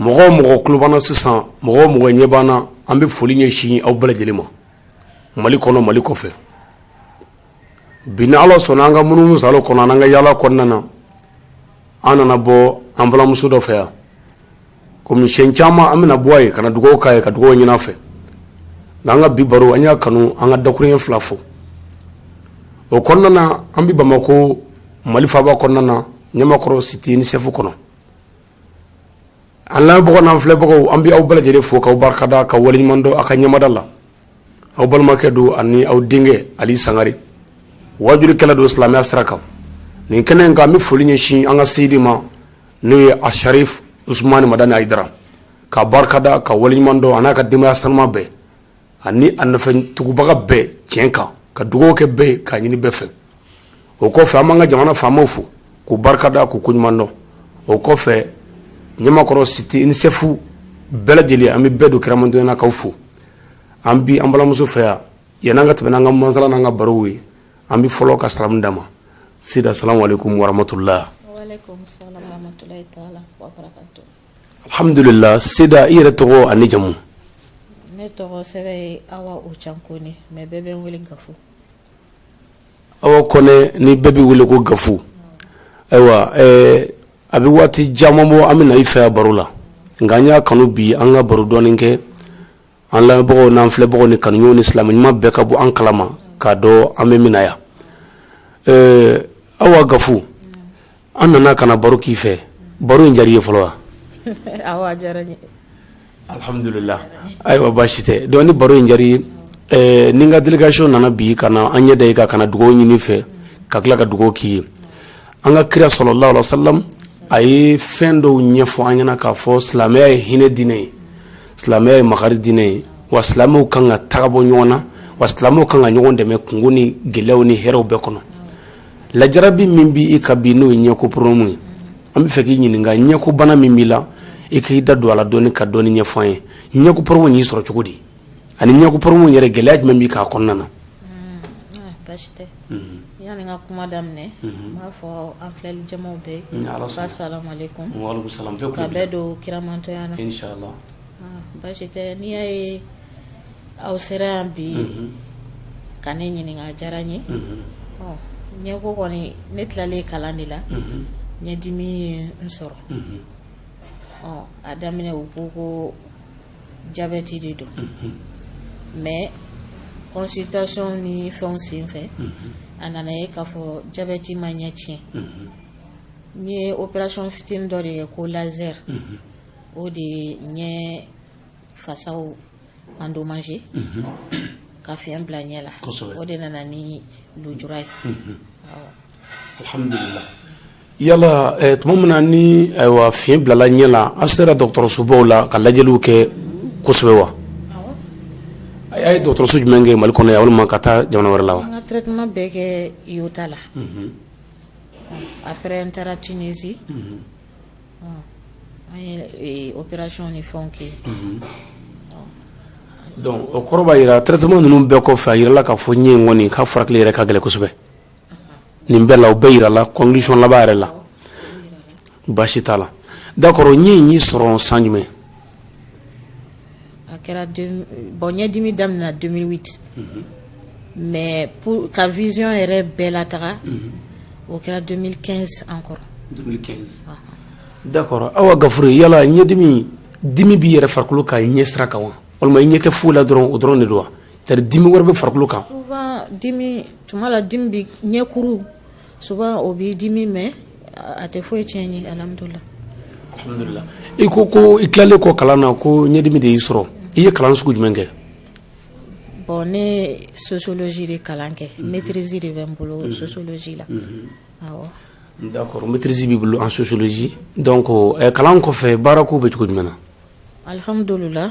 mɔgɔ o mɔgɔ tulo b'an na sisan mɔgɔ o mɔgɔ ɲɛ b'an na an bɛ foli ɲɛsin aw bɛɛ lajɛlen ma mali kɔnɔ mali kɔfɛ bi ni ala sɔnna an ka munumunu saalo kɔnɔ an ka yaala kɔnɔna na an nana bɔ an balimamuso dɔ fɛ yan kɔmi siyɛn caman an bɛ na bɔ a ye ka na dugawu k'a ye ka dugawu ɲini a fɛ nka an ka bi baro an y'a kanu an ka dakurunɲɛ fila fo o kɔnɔna na an bɛ bamakɔ mali faaba kɔnɔna na ɲamakɔrɔ site unicef kɔnɔ An lamɛnbagaw n'an filɛbagaw an bɛ aw bɛɛ lajɛlen fo k'aw barikada ka waleɲuman dɔn aw ka ɲɛmada la aw balimakɛ don ani aw denkɛ ali sangare waajulikɛla don silamɛya sira kan nin kɛnɛ in kan an bɛ foli ɲɛsin an ka seyidi ma n'o ye asarifu usumani madani ayidara k'a barikada k'a waleɲuman dɔn a n'a ka denbayaya sanuma bɛɛ ani a nɔfɛtugubaga bɛɛ tiɲɛ kan ka dugawu kɛ bɛɛ ye k'a ɲini bɛɛ fɛ o kɔfɛ an b'an ka jamana faamaw fo k'u barika da k'u koɲuman dɔn o kɔfɛ ɲamakɔrɔ site unicef bɛɛ lajɛlen an bɛ bɛɛ don kira mantonya na k'aw fo an bi an balimamuso fɛ yan yan'an ka tɛmɛ n'an ka masala n'an ka barow ye an bɛ fɔlɔ ka salamu d'a ma sida salamu aleykum waramatula Alhamdulila seda i yɛrɛ tɔgɔ ani jamu ne tɔgɔ sɛbɛ ye awa o ca kɔnɛ mais bɛɛ bɛ n wele gafu awa kɔnɛ ni bɛɛ bɛ wele ko gafu ayiwa a bɛ waati caman bɔ an bɛ na i fɛ yan baro la nka an y'a kanu bi an ka baro dɔɔnin kɛ An lamɛnbagaw n'an filɛbagaw ni kanuɲɔgɔnw ni silamɛ ɲuman bɛɛ ka bɔ an kalama k'a dɔn an bɛ min na yan ɛɛ Awa Gafu an nana ka na baro k'i fɛ baro in diyar'i ye fɔlɔ wa? Awɔ a diyara n ye. Alhamdulila ayiwa baasi tɛ donc ni baro in diyar'i ye ɛɛ ni n ka délégation nana bi ka na an ɲɛ da i kan ka na dugawu ɲini i fɛ ka tila ka dugawu k'i ye An ka kira salalahu aleyhi wa salam a ye fɛn dɔw ɲɛfɔ an ɲɛna k'a fɔ silamɛya ye hinɛ diinɛ ye silamɛya ye makari diinɛ ye wa silamɛw kan ka taga bɔ ɲɔgɔn na wa silamɛw kan ka ɲɔgɔn dɛmɛ kunko ni gɛlɛyaw ni hɛrɛw bɛɛ kɔnɔ lajarabi min b'i kan bi n'o ye ɲɛko problème ye an bɛ fɛ k'i ɲininka ɲɛko bana min b'i la i k'i da don a la dɔɔni ka dɔɔni ɲɛfɔ an ye ɲɛko problème y'i sɔrɔ cogo di ani ɲɛku poromu yɛrɛ gɛlɛya jumɛn bɛ k'a kɔnɔna na kuma daminɛ b'a fɔ an filɛli jama bɛɛ don kiramantɔya basi tɛ n'i y'a ye aw sera yan bi ka ne ɲininka diyara n ye ɲɛ ko kɔni ne tilalen kalan de la ɲɛ dimi n sɔrɔ a daminɛ u ko ko jabɛti de don mais consultation ni fɛnw sen fɛ a nana ye k'a fɔ jabɛti ma ɲɛ tiɲɛ n ye opération fitini dɔ de kɛ ko laser o de ye ɲɛ fasaw endommagé ka fiɲɛ bila ɲɛ la o de nana ni lujura ye alhamdulillah yala eh, tuma min na ni ayiwa fiɲɛ bilala ɲɛ la a sera dɔgɔtɔrɔsobaw la ka lajɛliw kɛ kosɛbɛ wa a ye dɔgɔtɔrɔso jumɛn kɛ mali kɔnɔ yan walima ka taa jamana wɛrɛ la wa an ka traitement bɛɛ kɛ IOTA la mhm. après an taara tunisie mhm. an ye eh, opération ni fɛnw kɛ mhm. donc o kɔrɔ b'a jira traitement ninnu bɛɛ kɔfɛ a jirala k'a fɔ ɲɛ in kɔni k'a furakɛli yɛrɛ ka gɛlɛn kosɛbɛ nin bɛɛ la o bɛɛ jirala conclusion laban yɛrɛ la baasi t'a la d'accord ɲɛ in y'i sɔrɔ san jumɛn a kɛra bon ɲɛdimi daminɛna 2008 mais ka vision yɛrɛ bɛɛ lataga o kɛra 2015 encore d'accord awa gafure yala ɲɛdimi dimi b'i yɛrɛ farikolo kan ɲɛ sira kan wa walima i ɲɛ tɛ foyi la dɔrɔn o dɔrɔn de don wa Tari dimi wɛrɛ bɛ farikolo kan tuma la dimi bɛ ɲɛkuru souvent o b'i dimi mais a tɛ foyi tiɲɛ n ye alhamdulillah i ko ko i tilalen kɔ kalan na ko ɲɛdimi de y'i sɔrɔ i ye kalan sugu jumɛn kɛ bon ne sociologie de kalan kɛ maîtrise de bɛ n bolo sociologie la awɔ d'accord maîtrise b'i bolo en sociologie donc kalan kɔfɛ baara ko bɛ cogo jumɛn na alhamdulillah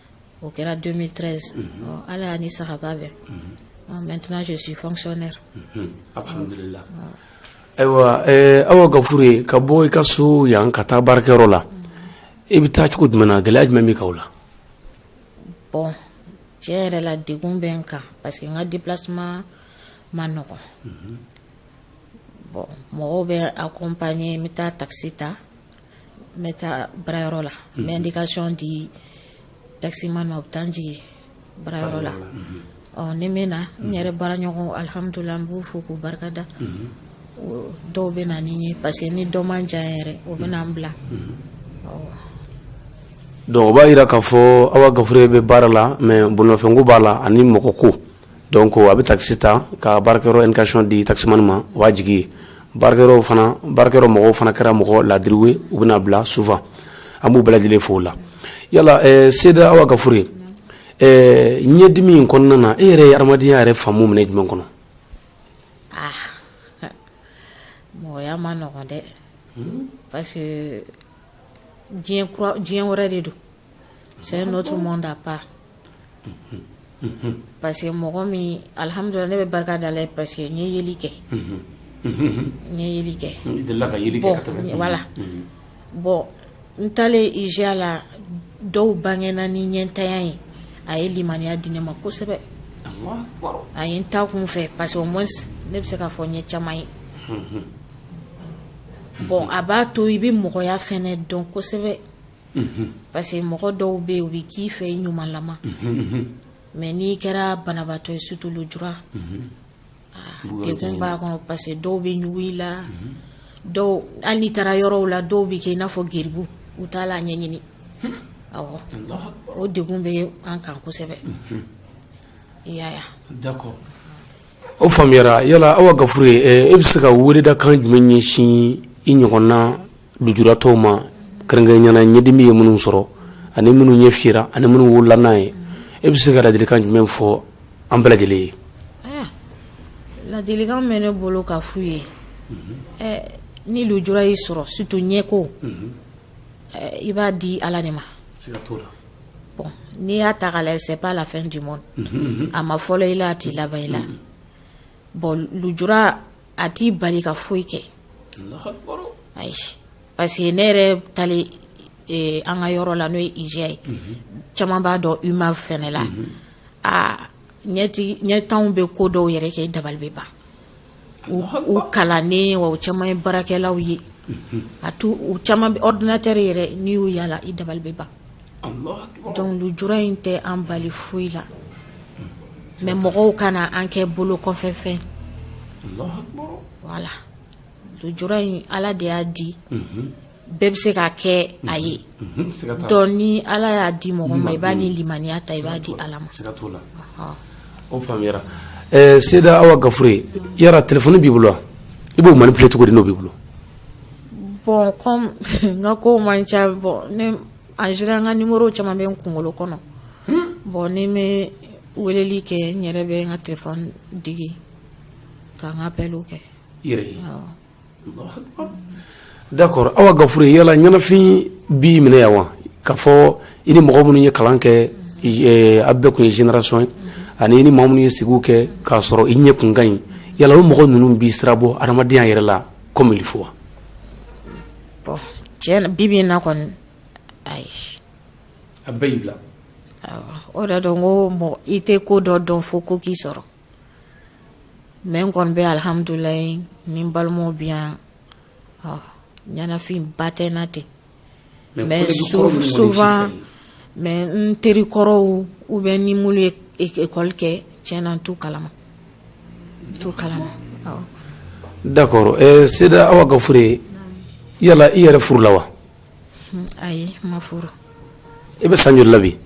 o kɛra 2013 ɔ, ala y'a ni sahaba bɛn Ɔ, maintenant je suis fonctionnaire alhamdulillah ayiwa eh, awa gafure ka bɔ i ka so yan ka taa baarakɛyɔrɔ la i bɛ taa cogo jumɛn na gɛlɛya jumɛn b'i kan o la bon tiɲɛ yɛrɛ la degun bɛ n kan parce que n ka déplacement ma nɔgɔn bon mɔgɔw bɛ accompagner n bɛ taa taxi ta n bɛ taa baarayɔrɔ la n bɛ indication di taximan ma u bɛ taa n jigin baarayɔrɔ la ɔ ni n bɛ na n yɛrɛ baaraɲɔgɔn alhamdulillah n b'u fo k'u barikada o- dɔw bɛ na ni n ye parce que ni dɔ man jan yɛrɛ o bɛ na n bila awɔ. donc o b'a jira k'a fɔ awa gafure bɛ baara la mais bolimafɛnko b'a la ani mɔgɔko Donc a bɛ taxi ta ka baarakɛyɔrɔ indication di taximan ma o b'a jigin yen baarakɛ fana baarakɛyɔrɔ mɔgɔw fana kɛra mɔgɔ laadiriw ye u bɛ n'a bila souvent an b'u bɛɛ lajɛlen fo o la yala Seyda Awa Gafure ɲɛdimi in kɔnɔna na e yɛrɛ ye adamadenya yɛrɛ faamu minɛ jumɛn kɔnɔ mɔgɔya man nɔgɔ dɛ parce que diɲɛ wɛrɛ de don c'est un autre monde à part parce que mɔgɔ min alihamudulila ne bɛ barika da Ala ye parce que n ye yeli kɛ n ye yeli kɛ i delila ka yeli kɛ ka tɛmɛ voilà bon n taalen IJA la dɔw bangena ni ɲɛntanya ye a ye limaniya di ne ma kosɛbɛ a ye n ta kun fɛ parce que au moins ne bɛ se k'a fɔ n ye caman ye bon a b'a to i bɛ mɔgɔya fɛnɛ dɔn kosɛbɛ parce que mɔgɔ dɔw bɛ yen u bɛ k'i fɛ i ɲumanlama mais n'i kɛra banabaatɔ ye surtout lujura degun b'a kɔnɔ parce que dɔw bɛ ɲugu i la dɔw hali n'i taara yɔrɔw la dɔw bɛ kɛ i n'a fɔ geribu u t'a la ɲɛɲini awɔ o degun bɛ an kan kosɛbɛ i y'a ye d'accord o faamuyara yala Awa Gafure e bɛ se ka weledakan jumɛn ɲɛsin i ɲɔgɔnna lujuratɔw ma kɛrɛnkɛrɛnnenya la ɲɛdimi ye minnu sɔrɔ ani minnu ɲɛ fiyera ani minnu wolola n'a ye e bɛ se ka ladilikan jumɛn fɔ an bɛɛ lajɛlen ye ladilikan bɛ ne bolo ka f'u ye ni lujura y'i sɔrɔ surtout ɲɛko i b'a di ala de ma n'i y'a ta k'a lajɛ c'est pas la fin du monde a ma fɔlɔ i la a tɛ laban i la bon lujura a t'i bali ka foyi kɛ ayi parce que ne yɛrɛ taalen an ka yɔrɔ la n'o ye IJA ye caman b'a dɔn UMAV fɛnɛ la aa ɲɛntanw bɛ ko dɔw yɛrɛ kɛ i dabali bɛ ban u kalannen wa u caman ye baarakɛlaw ye a to u caman bɛ ordinateur yɛrɛ n'i y'u ye a la i dabali bɛ ban donc lujura in tɛ an bali foyi la mais mɔgɔw kana an kɛ bolo kɔfɛ fɛn voilà lujura in ala de y'a di bɛɛ bɛ se ka kɛ a ye donc ni ala y'a di mɔgɔ ma i b'a ni limaniya ta i b'a di ala ma o faamuyara Seyda Awa Gafure yala téléphone b'i bolo wa i b'o manipuler cogo di n'o b'i bolo Bɔn n ka ko man ca bɔn en général n ka numéro caman bɛ n kunkolo kɔnɔ bɔn ni n bɛ weleli kɛ n yɛrɛ bɛ n ka téléphone digi ka n ka appel kɛ d'accord Awa Gafure yala ɲɛnafin b'i minɛ yan wa k'a fɔ i ni mɔgɔ minnu ye kalan kɛ a bɛɛ kun ye génération ye ani i ni maa minnu ye sigi kɛ k'a sɔrɔ i ɲɛ kun ka ɲi yala o mɔgɔ ninnu b'i sira bɔ ha adamadenya yɛrɛ la comme il faut wa bɔn tiɲɛna bibi in na kɔni ayi a bɛɛ y'i bila o de don ko mɔgɔ i tɛ ko dɔ dɔn fo ko k'i sɔrɔ mais n kɔni bɛ alihamdulilayi ni n balimaw bɛ yan ɲɛnafin ba tɛ n na ten mais n teri kɔrɔw ou bien ni minnu ye école kɛ tiɲɛna n t'u kalama n t'u kalama d'accord ɛ Seyda Awa Gafure yala i yɛrɛ furula wa ayi n ma furu i bɛ san joli la bi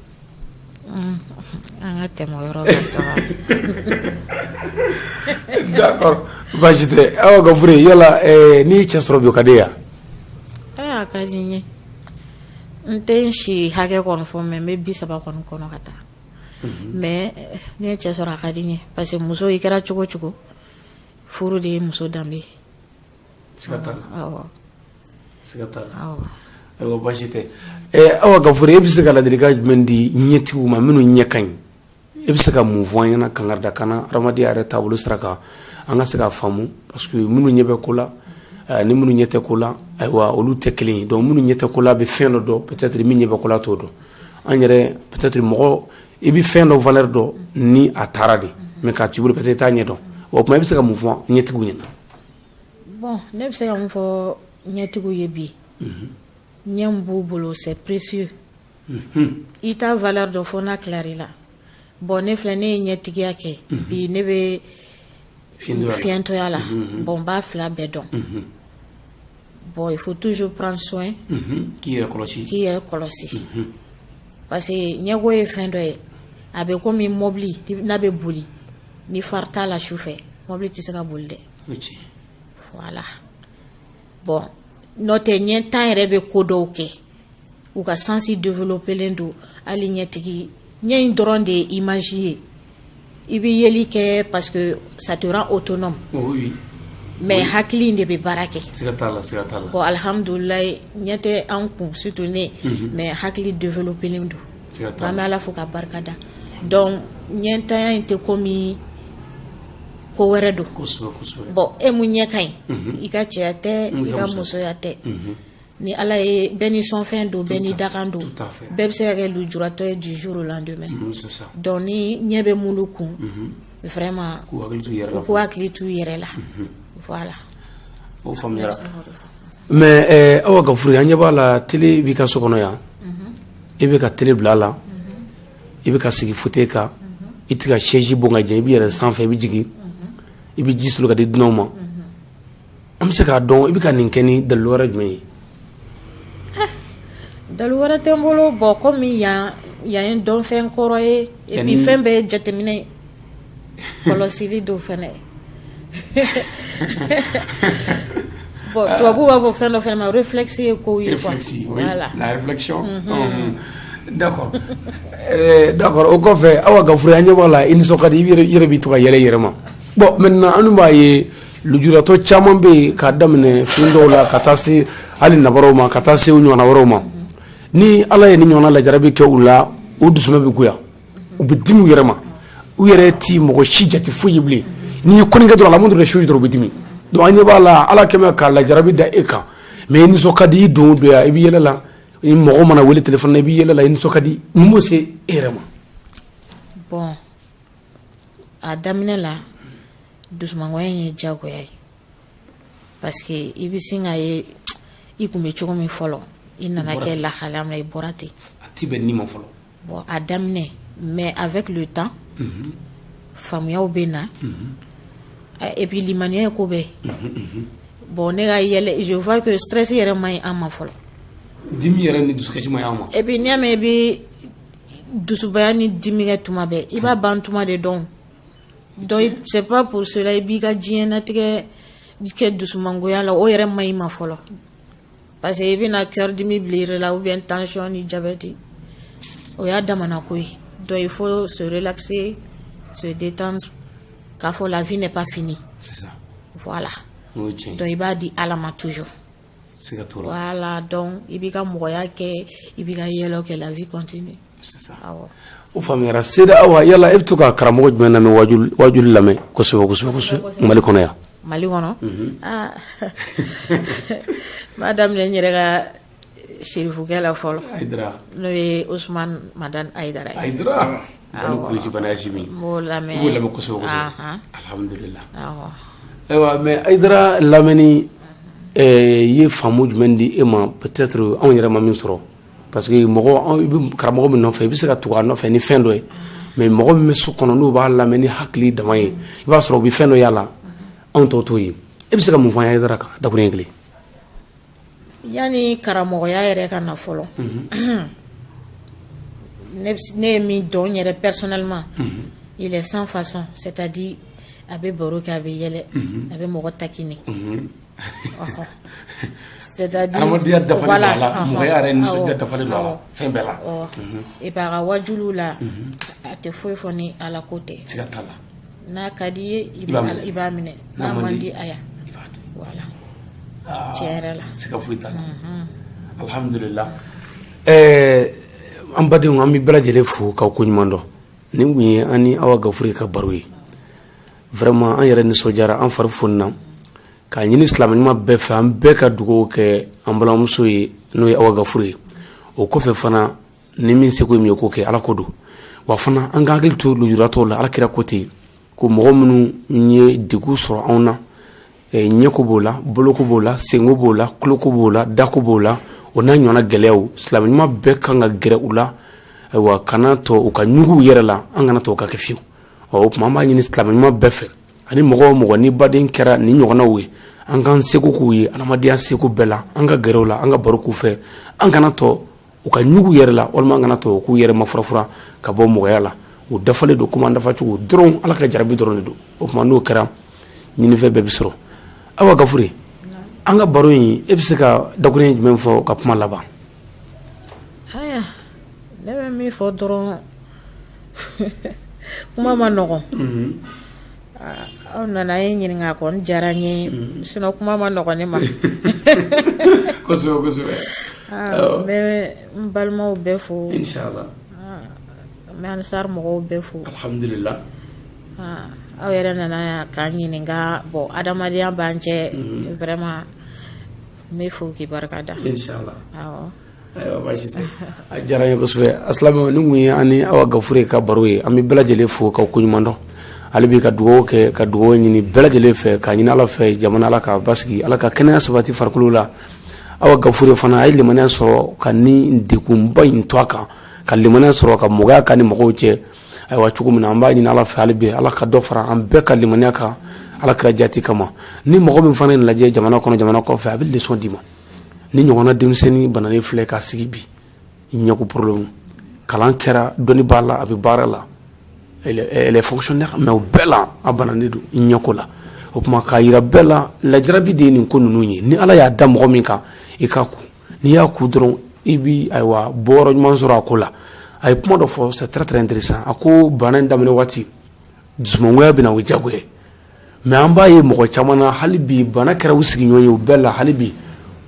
An ka tɛmɛ o yɔrɔ kan baasi tɛ Awa Gafure yala n'i ye cɛ sɔrɔ bi o ka d'i ye wa aa a ka di n ye n tɛ n si hakɛ kɔni fɔ mais n bɛ bi saba kɔni kɔnɔ ka taa mais ni n ye cɛ sɔrɔ a ka di n ye parce que muso i kɛra cogo o cogo furu de ye muso danbe ye siga t'a la awɔ siga t'a la awɔ ayiwa baasi tɛ ɛɛ Awa Gafure e bɛ se ka ladilikan jumɛn di ɲɛtigiw ma minnu ɲɛ ka ɲi e bɛ se ka mun fɔ an ɲɛna kankarida kan na adamadenya yɛrɛ taabolo sira kan an ka se k'a faamu parce que minnu ɲɛ bɛ ko la ɛɛ ni minnu ɲɛ tɛ ko la ayiwa olu tɛ kelen ye donc minnu ɲɛ tɛ ko la bɛ fɛn dɔ dɔn peut être min ɲɛ bɛ ko la t'o dɔn an yɛrɛ peut être mɔgɔ i bɛ fɛn dɔ valeur dɔn ni a taara de mais k'a t'i bolo peut être i t'a ɲɛ dɔn o tuma i bɛ se ka mun fɔ ɲɛtigiw ɲɛna bɔn ne bɛ se ka min fɔ ɲɛtigiw ye bi mhm. ɲɛ min b'u bolo c'est précieux mhm. i t'a valeur dɔn fo n'a tilar'i la bɔn ne filɛ ne ye ɲɛtigiya kɛ mhm. bi ne bɛ fiɲɛtɔya la bɔn n b'a fila bɛɛ dɔn bon il faut toujours prendre soin k'i yɛrɛ kɔlɔsi k'i yɛrɛ kɔlɔsi parce que ɲɛko ye fɛn dɔ ye a bɛ komi mɔbili n'a bɛ boli ni phare t'a la su fɛ mɔbili tɛ se ka boli dɛ voilà bɔn n'o tɛ ɲɛntan yɛrɛ bɛ ko dɔw kɛ u ka sansi developelen don hali ɲɛtigi ɲɛ in dɔrɔn de ye image ye i bɛ yeli kɛ parce que ça te rend autonome oh, oui. mais oui. hakili in de bɛ baara kɛ siga t'a la siga t'a la bon alhamdulilayi ɲɛ tɛ an kun surtout ne mm -hmm. mais hakili developelen don an bɛ ala fo ka barika da donc ɲɛntanya in tɛ kɔmi ko wɛrɛ don bon e mun ɲɛ ka ɲi mhm. i ka cɛya tɛ i ka musoya tɛ mhm. ni ala ye bɛɛ ni sɔnfɛn don bɛɛ ni dakan don bɛɛ bɛ se ka kɛ lujuratɔ ye du jour au lendemain mhm, donc ni ɲɛ bɛ mulu kun vraiment u k'u hakili t'u yɛrɛ la voilà o faamuyara mais eh, awa gafure an ɲɛ b'a la télé b'i ka so kɔnɔ yan i bɛ ka télé bila a la i bɛ ka sigi fauteuil kan i tɛ ka chaise bon k'a jɛ i bɛ yɛlɛn sanfɛ i bɛ jigin i bɛ ji soli ka di dunanw ma an bɛ se k'a dɔn i bɛ ka nin kɛ ni dalilu wɛrɛ jumɛn ye dalilu wɛrɛ tɛ n bolo bon kɔmi yan yan ye dɔnfɛn kɔrɔ ye fɛn bɛɛ ye jateminɛ ye kɔlɔsili don fana bon tubabuw b'a fɔ fɛn dɔ fana ma réflexe ye kow ye quoi réflexe oui voilà la réflexion unhun. d'accord Euh, d'accord o kɔfɛ awa gafure an ɲɛ b'a la i nisɔn ka di i yɛrɛ- i yɛrɛ b'i to ka yɛlɛ i yɛrɛ ma bon maintenant an dun b'a ye lujuratɔ caman bɛ yen k'a daminɛ fiyentɔw la ka taa se hali nabaraw ma ka taa se u ɲɔgɔnna wɛrɛw ma ni ala ye nin ɲɔgɔnna lajarabi kɛ u la u dusuma bɛ goya u bɛ dimi u yɛrɛ ma u yɛrɛ tɛ mɔgɔ si jate foyi ye bilen n'i ye konin kɛ dɔrɔn la moindre chose dɔrɔn u bɛ dimi donc an ɲɛ b'a la ala kɛmɛ ka lajarabi da e kan mais i nisɔn ka di i don o don yan i bɛ yɛlɛ la ni mɔgɔ mana wele téléphone na i bɛ yɛlɛ la i nisɔn ka di mun b'o se e yɛrɛ ma bon a daminɛ la dusumangoya in ye jagoya ye parce que i bɛ sin k'a ye i tun bɛ cogo min fɔlɔ i nana kɛ lahalaya min na i bɔra ten a tɛ bɛn i ma fɔlɔ Bon a daminɛ mais avec le temps unhun, faamuyaw bɛ na, unhun, et puis limaniya ye ko bɛɛ ye, unhun, unhun, bon ne ka yɛlɛ je vois que stress yɛrɛ man ɲi an ma fɔlɔ, dimi yɛrɛ ni dusukasi man ɲi an ma, et puis n'i y'a mɛn i bɛ dusubaya ni dimi kɛ tuma bɛɛ i b'a ban tuma de dɔn, donc c'est pas pour cela i b'i ka diɲɛlatigɛ kɛ dusumangoya la o yɛrɛ man ɲi ma fɔlɔ parce que i bɛna cœur dimi bila i yɛrɛ la ou bien tension ni jabɛti o y'a damana ko ye donc il faut se relaxer se détendre k'a fɔ la vie n'est pas finie voilà donc i b'a di ala ma toujours voilà donc i b'i ka mɔgɔya kɛ i b'i ka yɛlɛw kɛ la vie continue o faamuyara seyida awa yala e bɛ to ka karamɔgɔ jumɛn lamɛn wajuli lamɛn kosɛbɛ mali kɔnɔ yan mali kɔnɔ n b'a daminɛ n yɛrɛ ka serifukɛ la fɔlɔ n'o ye usumani madani ayidara ye ayiwa mais ayidara lamɛnni ye faamu jumɛn di e ma peut-être anw yɛrɛ ma min sɔrɔ parce que mɔgɔ i bɛ karamɔgɔ min nɔfɛ i bɛ se ka tugu a nɔfɛ ni fɛn dɔ ye mais mɔgɔ min bɛ so kɔnɔ n'u b'a lamɛn ni hakili dama ye i b'a sɔrɔ u bɛ fɛn dɔ y'a la anw tɔw t'o ye e bɛ se ka mun fɔ an ye ayidara kan dakuruɲɛ kelen yanni karamɔgɔya yɛrɛ ka na fɔlɔ mhm. ne ye min dɔn n yɛrɛ personnellement mhm. il est sans façon c'est-à-dire a bɛ baro kɛ a bɛ yɛlɛ mhm. a bɛ mɔgɔ taquiner Adamadenya dafa fɛn bɛɛ la et puis a ka wajuliw la a tɛ foyi fɔ ni ala ko tɛ n'a ka d'i ye i b'a minɛ n'a man di a tiɲɛ la siga foyi t'a la alihamdulila ɛɛ an badenw an bɛ bɛɛ lajɛlen fo k'aw ko ɲuman dɔn nin kun ye an ni awa gafure ka baro ye vraiment an yɛrɛ nisɔndiyara an fari fonina k'a ɲini silamɛ ɲuman bɛɛ fɛ an bɛɛ ka dugawu kɛ an balimamuso ye n'o ye awa gafure ye o kɔfɛ fana ni min seko ye min ye k'o kɛ ala ko don wa fana an ka hakili to lujuratɔw la ala kira ko ten ko mɔgɔ minnu ye degun sɔrɔ anw na eh, ɲɛko b'o la boloko b'o la senko b'o la kuloko b'o la dako b'o la o n'a ɲɔgɔnna gɛlɛyaw silamɛ ɲuman bɛɛ kan ka gɛrɛ u la ayiwa kana to u ka ɲugun u yɛrɛ la an kana to u k'a kɛ fiyewu ɔ o tuma an b'a ɲini silamɛ ɲuman bɛɛ fɛ ani mɔgɔ o mɔgɔ n'i baden kɛra nin ɲɔgɔnnaw ye an k'an seko k'u ye adamadenya seko bɛɛ la an ka gɛrɛ u la an ka baro k'u fɛ an kana to u ka ɲugun u yɛrɛ la walima an kana to u k'u yɛrɛ mafurafura ka bɔ mɔgɔya la u dafalen don komi an dafa cogo dɔrɔn ala ka jarabi dɔrɔn de don o tuma n'o kɛra ɲinifɛn bɛɛ bɛ sɔrɔ awa gafure an ka baro in e bɛ se ka dakuruɲɛ jumɛn fɔ ka kuma laban ne bɛ min fɔ dɔrɔn kuma man nɔgɔ aw nana ne ɲininka kɔni diyara n ye sinon kuma man nɔgɔ ne ma n bɛ n balimaw bɛɛ fo n bɛ ansari mɔgɔw bɛɛ fo aw yɛrɛ nana yan k'an ɲininka bon adamadenya b'an cɛ vraiment n bɛ fo k'i barika da ayiwa baasi tɛ a diyara n ye kosɛbɛ a silamɛw nin kun ye an ni awa gafure ka baro ye an bɛ bɛɛ lajɛlen fo k'aw ko ɲuman dɔn hali bi ka dugawu kɛ ka dugawu ɲini bɛɛ lajɛlen fɛ k'a ɲini ala fɛ jamana ala k'a basigi ala ka kɛnɛya sabati farikolo la awa gafure fana a ye limaniya sɔrɔ ka nin degunba in to a kan ka limaniya sɔrɔ ka mɔgɔya k'a ni mɔgɔw cɛ ayiwa cogo min na an b'a ɲini ala fɛ hali bi ala ka dɔ fara an bɛɛ ka limaniya kan ala kira jati kama ni mɔgɔ min fana ye nin lajɛ jamana kɔnɔ jamana kɔfɛ a bɛ leçon d'i ma nin ɲɔgɔnna denmisɛnnin bananen filɛ ka sigi bi ɲɛko problème kalan kɛra dɔnni b'a la a bɛ baara la elle est fonctionnaire mais o bɛɛ la a bananen don ɲɛko la o tuma k'a yira bɛɛ la lajarabi de ye nin ko ninnu ye ni ala y'a da mɔgɔ min kan i k'a ku n'i y'a ku dɔrɔn i bɛ ayiwa bɔyɔrɔ ɲuman sɔrɔ a ko la a ye kuma dɔ fɔ c'est très très intéressant a ko bana in daminɛ waati dusumangoya bɛ na o ye jagoya mais an b'a ye mɔgɔ caman na hali bi bana kɛra u sigiɲɔgɔn ye o bɛɛ la hali bi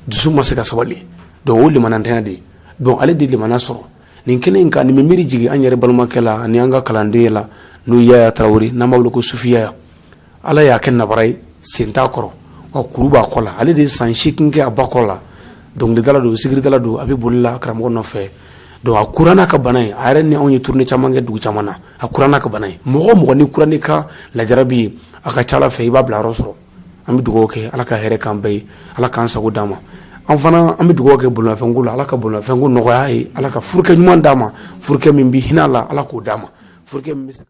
dusu ma se ka sabali donc o limanantanya de ye donc ale de limana sɔrɔ nin kɛnɛ in kan nin bɛ miiri jigin an yɛrɛ balimakɛ la ani an ka kalanden la n'o yaya tarawele n'an b'a wele ko sufi yaya ala y'a kɛ nabara ye sen t'a kɔrɔ wa kuru b'a kɔ la ale de ye san seegin kɛ a ba kɔ la dɔnkilidala don sigiridala don a bɛ bolila karamɔgɔ nɔfɛ donc a kura n'a ka bana ye a yɛrɛ ni anw ye tournée caman kɛ dugu caman na a kura n'a ka bana ye mɔgɔ o mɔgɔ n'i kura n'i ka lajarabi ye a ka ca Ala fɛ i b'a bilayɔrɔ sɔrɔ an bɛ dugawu kɛ Ala ka hɛrɛ k'an bɛɛ ye Ala k'an sago d'an ma an fana an bɛ dugawu kɛ bolimafɛnko la Ala ka bolimafɛnko nɔgɔya a ye Ala ka furukɛ ɲuman d'a ma furukɛ min bɛ hinɛ a la Ala k'o d'a ma furukɛ min bɛ se ka